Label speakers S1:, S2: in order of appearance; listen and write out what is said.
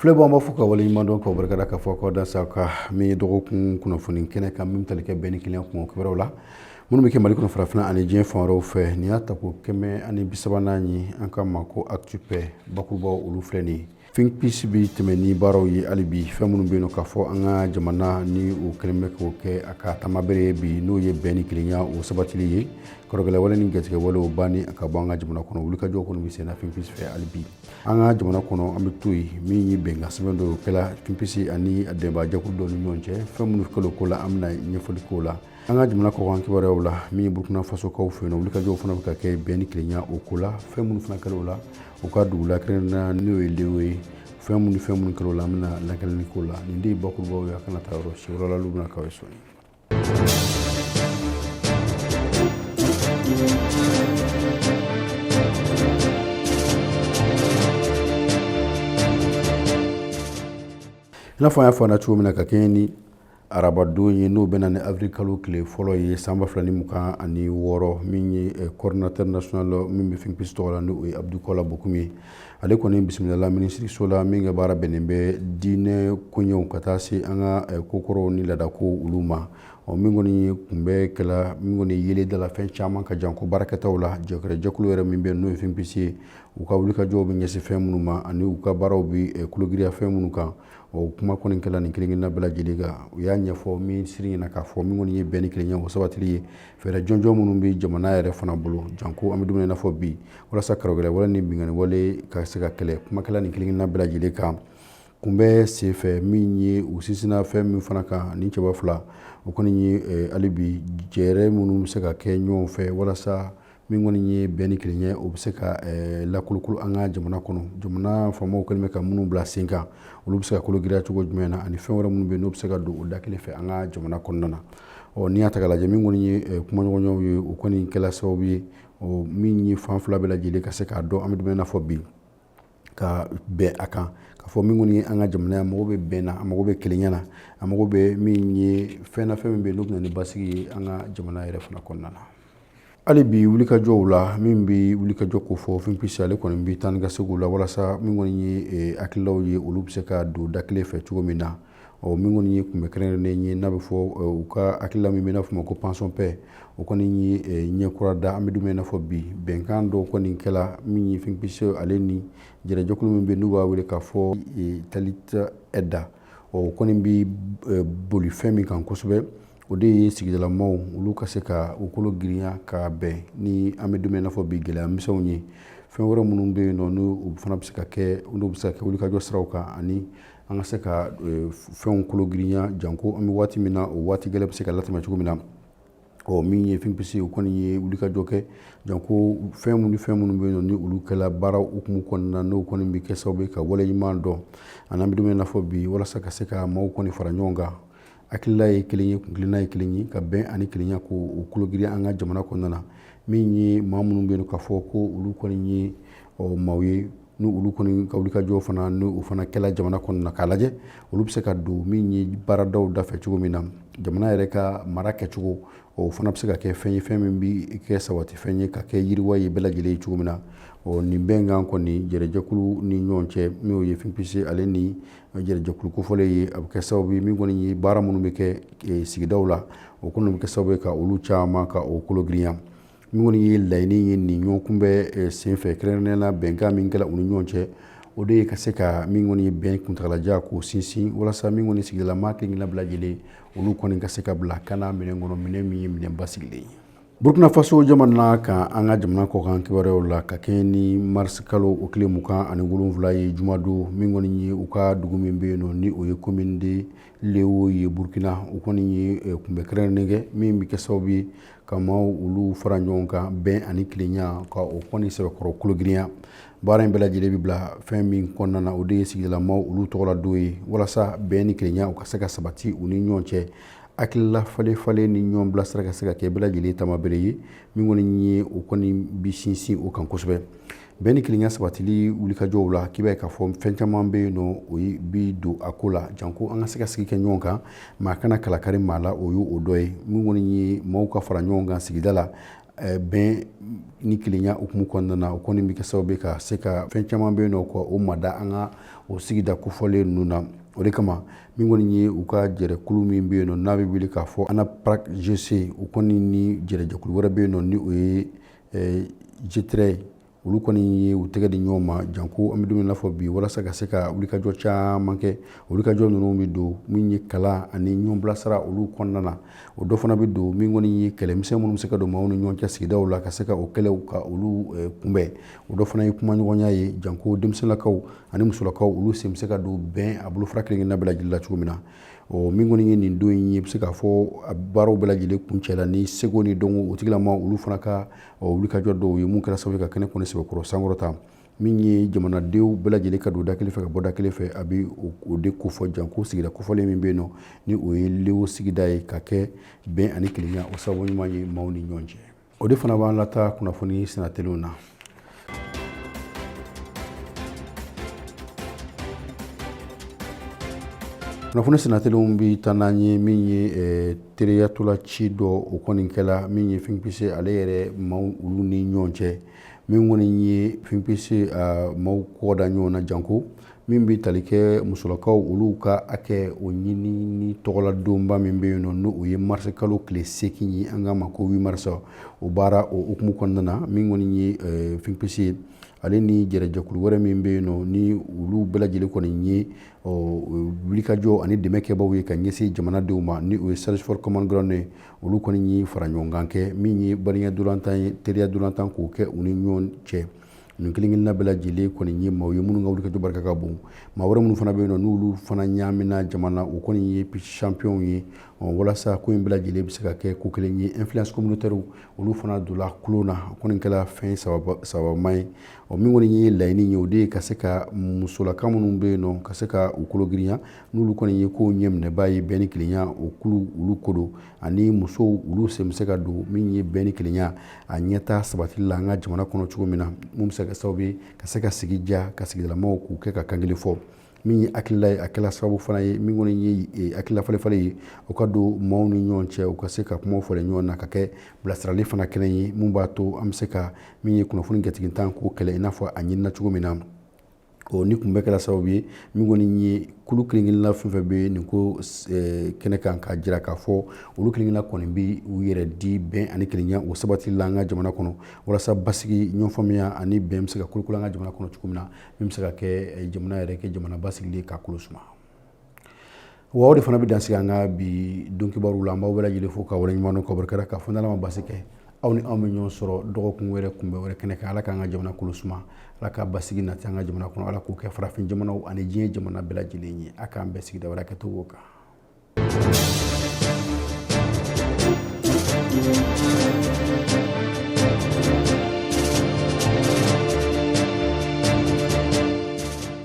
S1: Filɛbagaw an b'aw fo k'aw waleɲumandɔn k'aw barikada k'a fɔ k'aw dansɛ an ka min ye dɔgɔkun kunnafoni kɛnɛ kan min tali kɛ bɛn ni kelenya kibaruw la minnu bɛ kɛ mali kɔnɔ farafinna ani diɲɛ fan wɛrɛw fɛ nin y'a tako kɛmɛ ani bi saba ni naani ye an ka ma ko Actu Paix bakurubaw olu filɛ nin ye Think Peace bɛ tɛmɛ ni baaraw ye hali bi fɛn minnu bɛ yen ka fɔ an ka jamana ni u kɛlen bɛ k'o kɛ a ka tamabere ye bi n'o ye bɛn ni kelenya o sabatili ye karɔgɛlɛwale ni gatigɛwalew ban a ka bɔ an ka jamana kɔnɔ wulikajɔ kɔni bɛ senna Think Peace fɛ hali bi an ka jamana kɔnɔ an bɛ to yen min ye bɛnkan sɛbɛn dɔ kɛla Think Peace ani dɛmɛbajɛkulu dɔ ni ɲɔgɔn cɛ fɛn minnu kɛla o ko la an bɛna ɲɛfɔli k'o la an ka jamana kɔkan kibaruyaw la min ye burukina fasokaw fɛ yen wulikajɔw fana bɛ ka kɛ bɛn ni kelenya o ko la fɛn minnu fana kɛla o la u ka dugu la kɛrɛnkɛrɛnnenya n'o ye lewo ye fɛn minnu fɛn minnu kɛla o la an bɛna lakalili k'o la nin de ye bakurubaw ye aw kana taa yɔrɔ si wɛrɛ la olu bɛna k'aw ye sɔɔni n'a fɔ an y'a fɔ aw ɲɛna cogo min na ka kɛɲɛ ni arabadon ye n'o bɛnna ni avril kalo tile fɔlɔ ye san ba fila ni mugan ani wɔɔrɔ min ye coordinateur national min bɛ Think Peace tɔgɔ la ni o ye Abdou Kola Bocoum ye ale kɔni bisimilala minisiriso la min ka baara bɛnnen bɛ diinɛ koɲɛw ka taa se an ka eh, kokɔrɔw ni laadakow olu ma ɔ min kɔni ye kunbɛn kɛla min kɔni yeelen dala fɛn caman kan janko baarakɛtaw la jɛkɛrɛjɛkulu yɛrɛ min bɛ n'o ye Think Peace ye u ka wulikajɔw bɛ ɲɛsin fɛn minnu ma ani u ka baaraw bɛ eh, kologiriya fɛn minnu kan o kuma kɔni kɛla nin kelenkelenna bɛɛ lajɛlen kan u y'a ɲɛfɔ minisiri ɲɛna k'a fɔ min kɔni ye bɛn ni kelenya o sabatili ye fɛɛrɛ jɔnjɔn minnu bɛ jamana yɛrɛ fana bolo janko an bɛ don min i n'a fɔ bi walasa karɔgɛlɛwale ni binkanni wale ka se ka kɛlɛ kuma kɛla nin kelenkelenna bɛɛ lajɛlen kan kunbɛn senfɛ min ye u sinsinna fɛn min fana kan nin cɛba fila o kɔni ye hali bi jɛɛrɛ minnu bɛ se ka kɛ ɲɔgɔn fɛ walasa min kɔni ye bɛn ni kelenya o bɛ se ka eh, lakolokolo an ka jamana kɔnɔ jamana faamaw kɛlen bɛ ka minnu bila sen kan olu bɛ se ka kologiriya cogo jumɛn na ani fɛn wɛrɛ minnu bɛ n'o bɛ se ka don o da kelen fɛ an ka jamana kɔnɔna na ɔ n'i y'a ta k'a lajɛ min kɔni ye eh, kumaɲɔgɔnyaw ye o kɔni kɛla sababu ye min ye fan fila bɛɛ lajɛlen ka se k'a dɔn an bɛ don min i n'a fɔ bi ka bɛn a kan k'a fɔ min kɔni ye an ka jamana a mago bɛ bɛn na a mago bɛ kelenya na a mago bɛ min ye fɛn na fɛn min bɛ yen n'o bɛ na ni basigi ye an ka jamana yɛrɛ fana kɔnɔna na hali bi wulikajɔw la min bɛ wulikajɔ ko fɔ Think Peace ale kɔni bɛ taa ni ka segin la walasa min kɔni ye hakililaw ye olu bɛ se ka don da kelen fɛ cogo min na ɔ min kɔni ye kunbɛ kɛrɛnkɛrɛnnen ye n'a bɛ fɔ u ka hakilila min bɛ n'a fɔ ma ko Pensons Paix o kɔni ye ɲɛ kura da an bɛ don min i n'a fɔ bi bɛnkan dɔ kɔni kɛla min ye Think Peace ale ni jɛrɛjɛkulu min bɛ n'u b'a wele k'a fɔ tali da o kɔni bɛ boli fɛn min kan kosɛbɛ o de ye sigidalamaw olu ka se ka u kologirinya ka bɛn ni an bɛ don min i n'a fɔ bi gɛlɛya misɛnw ye fɛn wɛrɛ minnu bɛ yen nɔ n'u fana bɛ se ka kɛ olu bɛ se ka kɛ wulikajɔ siraw kan ani an ka se ka fɛnw kologirinya janko an bɛ waati min na o waati gɛlɛn bɛ se ka latɛmɛ cogo min na ɔ min ye Think Peace o kɔni ye wulikajɔ kɛ janko fɛn minnu fɛn minnu bɛ yen ni olu kɛla baara hukumu kɔnɔna n'o kɔni bɛ kɛ sababu ye ka waleɲuman dɔn ani an bɛ don min i n'a fɔ bi walasa ka se ka maaw kɔni fara ɲɔgɔn kan hakilila ye kelen ye kuntilenna ye kelen ye ka bɛn ani kelenya ko o kologirinya an ka jamana kɔnɔna na min ye maa minnu bɛ yen k'a fɔ ko olu kɔni ye ɔ maaw ye ni olu kɔni ka wulikajɔ fana ni o fana kɛla jamana kɔnɔna k'a lajɛ olu bɛ se ka don min ye baaradaw dafɛ cogo min na jamana yɛrɛ ka mara kɛcogo o fana bɛ se ka kɛ fɛn ye fɛn min bɛ kɛ sabati fɛn ye ka kɛ yiriwa ye bɛɛ lajɛlen ye cogo min na ɔ nin bɛnkan kɔni jɛrɛjɛkulu ni ɲɔgɔn cɛ min ye Think Peace ale ni jɛrɛjɛkulu kofɔlen ye a bɛ kɛ sababu ye min kɔni ye baara minnu bɛ kɛ sigidaw la o kɔni bɛ kɛ sababu ye ka olu caman ka o kologirinya Min kɔni ye laɲini ye nin ɲɔgɔnkunbɛ senfɛ kɛrɛnkɛrɛnnenya la bɛnkan min kɛla u ni ɲɔgɔn cɛ o de ye ka se ka min kɔni ye bɛn kuntaalajan k'o sinsin walasa min kɔni sigidalama kelen-kelenna bɛɛ lajɛlen olu kɔni ka se ka bila kan minɛn kɔnɔ minɛn min ye minɛn basigilen ye Burukina Faso jamana kan an ka jamana kɔkan kibaruyaw la ka kɛɲɛ ni marisi kalo o tile mugan ani wolonwula ye jumadon min kɔni ye u ka dugu min bɛ yen nɔ ni o ye commune de Léo ye burukina u kɔni ye kunbɛ kɛrɛnkɛrɛnnen kɛ min bɛ kɛ sababu ye ka maaw olu fara ɲɔgɔn kan bɛn ani kelenya ka o kɔni sɛbɛkɔrɔ kologirinya baara in bɛɛ lajɛlen bɛ bila fɛn min kɔnɔna na o de ye sigidalamaw olu tɔgɔla don ye walasa bɛn ni kelenya u ka se ka sabati u ni ɲɔgɔn cɛ hakilila falen falen ni ɲɔgɔn bilasira ka se ka kɛ bɛɛ lajɛlen tamabere ye min kɔni ye o kɔni bi sinsin o kan kosɛbɛ bɛn ni kelenya sabatili wulikajɔw la k'i b'a ye k'a fɔ fɛn caman bɛ yen nɔ o bi don a ko la janko an ka se ka sigi kɛ ɲɔgɔn kan maa kana kalakari maa la o y'o o dɔ ye min kɔni ye maaw ka fara ɲɔgɔn kan sigida la eh, bɛn ni kelenya hukumu kɔnɔna na o kɔni bɛ kɛ sababu ye ka se ka fɛn caman bɛ yen nɔ ka o mada an ka o sigida kofɔlen ninnu na o de kama min kɔni ye u ka jɛrɛkulu min bɛ yen nɔ n'a bɛ wele k'a fɔ ANAPRAC GC u kɔni ni jɛrɛjɛkulu wɛrɛ bɛ yen nɔ ni o ye jitere olu kɔni ye u tɛgɛ di ɲɔgɔn ma janko an bɛ don min na fɔ bi walasa ka se ka wulikajɔ caman kɛ wulikajɔ ninnu bɛ don min ye kalan ani ɲɔgɔn bilasira olu kɔnɔna na o dɔ fana bɛ don min kɔni ye kɛlɛmisɛn minnu bɛ se ka don maaw ni ɲɔgɔn cɛ sigida la ka se ka o kɛlɛ ka olu kunbɛn o dɔ fana ye kumaɲɔgɔnya ye janko denmisɛnninlakaw ani musolakaw olu sen bɛ se ka don bɛn a bolofara kelenkelenna bɛɛ lajɛlen la cogo min na ɔ min kɔni ye nin don in ye bɛ se k'a fɔ a baaraw bɛɛ lajɛlen kuncɛla ni seko ni dɔnko o tigilama olu fana ka wulikajɔ dɔw ye mun kɛra sababu ka kɛnɛ kɔni sɛbɛkɔrɔ sankɔrɔta min ye jamanadenw bɛɛ lajɛlen ka don da kelen fɛ ka bɔ da kelen fɛ a bɛ o de kofɔ janko sigida kofɔlen min bɛ yen nɔ ni o ye lewo sigida ye ka kɛ bɛn ani kelenya o sababu ɲuman ye maaw ni ɲɔgɔn cɛ o de fana b'an lataa kunnafoni sinateliw na kunnafoni sinateliw bi taa n'an ye min ye eh, teriya ntolaci dɔ o kɔni kɛla min ye Think Peace ale yɛrɛ maaw olu ni ɲɔgɔn cɛ min kɔni ye Think Peace ah, maaw kɔda ɲɔgɔn na janko min bɛ tali kɛ musolakaw olu ka hakɛ o ɲinini tɔgɔladonba min bɛ yen nɔ n'o ye marisi kalo tile seegin ye an k'a ma ko huit mars o baara o hukumu kɔnɔna na min kɔni ye eh, Think Peace ye ale ni jɛrɛjɛkulu wɛrɛ min bɛ yen nɔ ni olu bɛɛ lajɛlen kɔni ye wulikajɔ ani dɛmɛ kɛbaaw ye ka ɲɛsin jamanadenw ma ni o ye Search for Common Ground ye olu kɔni ye faraɲɔgɔnkan kɛ min ye baliya ntolatan ye teriya ntolatan k'o kɛ u ni ɲɔgɔn cɛ nin kelenkelenna bɛɛ lajɛlen kɔni ye maaw ye minnu ka wulikajɔ barika ka bon maa wɛrɛ minnu fana bɛ yen nɔ n'olu fana ɲaamina jama na u kɔni ye champion ye walasa ko in bɛɛ lajɛlen bɛ se ka kɛ ko kelen ye influence communautaire olu fana donna tulon na o kɔni kɛla fɛn sababuma ye ɔ min kɔni ye laɲini ye o de ye ka se ka musolaka minnu bɛ yen nɔ ka se ka u kolo girinya n'olu kɔni ye ko ɲɛminɛbaa ye bɛn ni kelenya o kulu olu ko don ani musow olu sen bɛ se ka don min ye bɛn ni kelenya a ɲɛtaa sabatili la an ka jamana kɔnɔ cogo min na mun bɛ se ka sababu ye ka se ka sigi diya ka sigidalamaw k'u kɛ ka kan kelen fɔ min ye hakilila ye a kɛla sababu fana ye min kɔni ye eh, hakilila falenfalen ye o ka don maaw ni ɲɔgɔn cɛ u ka se ka kumaw falen ɲɔgɔn na ka kɛ bilasirali fana kɛnɛ ye mun b'a to an bɛ se ka min ye kunnafoni gatigintan k'o kɛlɛ i n'a fɔ a ɲinina cogo min na ɔ nin kun bɛɛ kɛla sababu ye min kɔni ye kulu kelenkelenna fɛn fɛn bɛ nin ko eh, kɛnɛ kan k'a jira k'a fɔ olu kelenkelenna kɔni bɛ u yɛrɛ di bɛn ani kelenya o sabatili la an ka jamana kɔnɔ walasa basigi ɲɔgɔnfaamuya ani bɛn bɛ se ka kolokolo an ka jamana kɔnɔ cogo min na min bɛ se ka kɛ eh, jamana yɛrɛ kɛ jamana basigilen ka kolo suma wa o de fana bɛ dan sigi an ka bi don kibaruw la an b'aw bɛɛ lajɛlen fo ka waleɲuman dɔn ka barika da ka fɔ n'ala ma basi kɛ aw ni anw bɛ ɲɔgɔn sɔrɔ dɔgɔkun wɛrɛ kunbɛn wɛrɛ kɛnɛ kan ala k'an ka jamana kolo suma ala ka basigi nati an ka jamana kɔnɔ ala k'o kɛ farafin jamanaw ani diɲɛ jamana bɛɛ lajɛlen ye a k'an bɛɛ sigida wɛrɛ kɛ to kan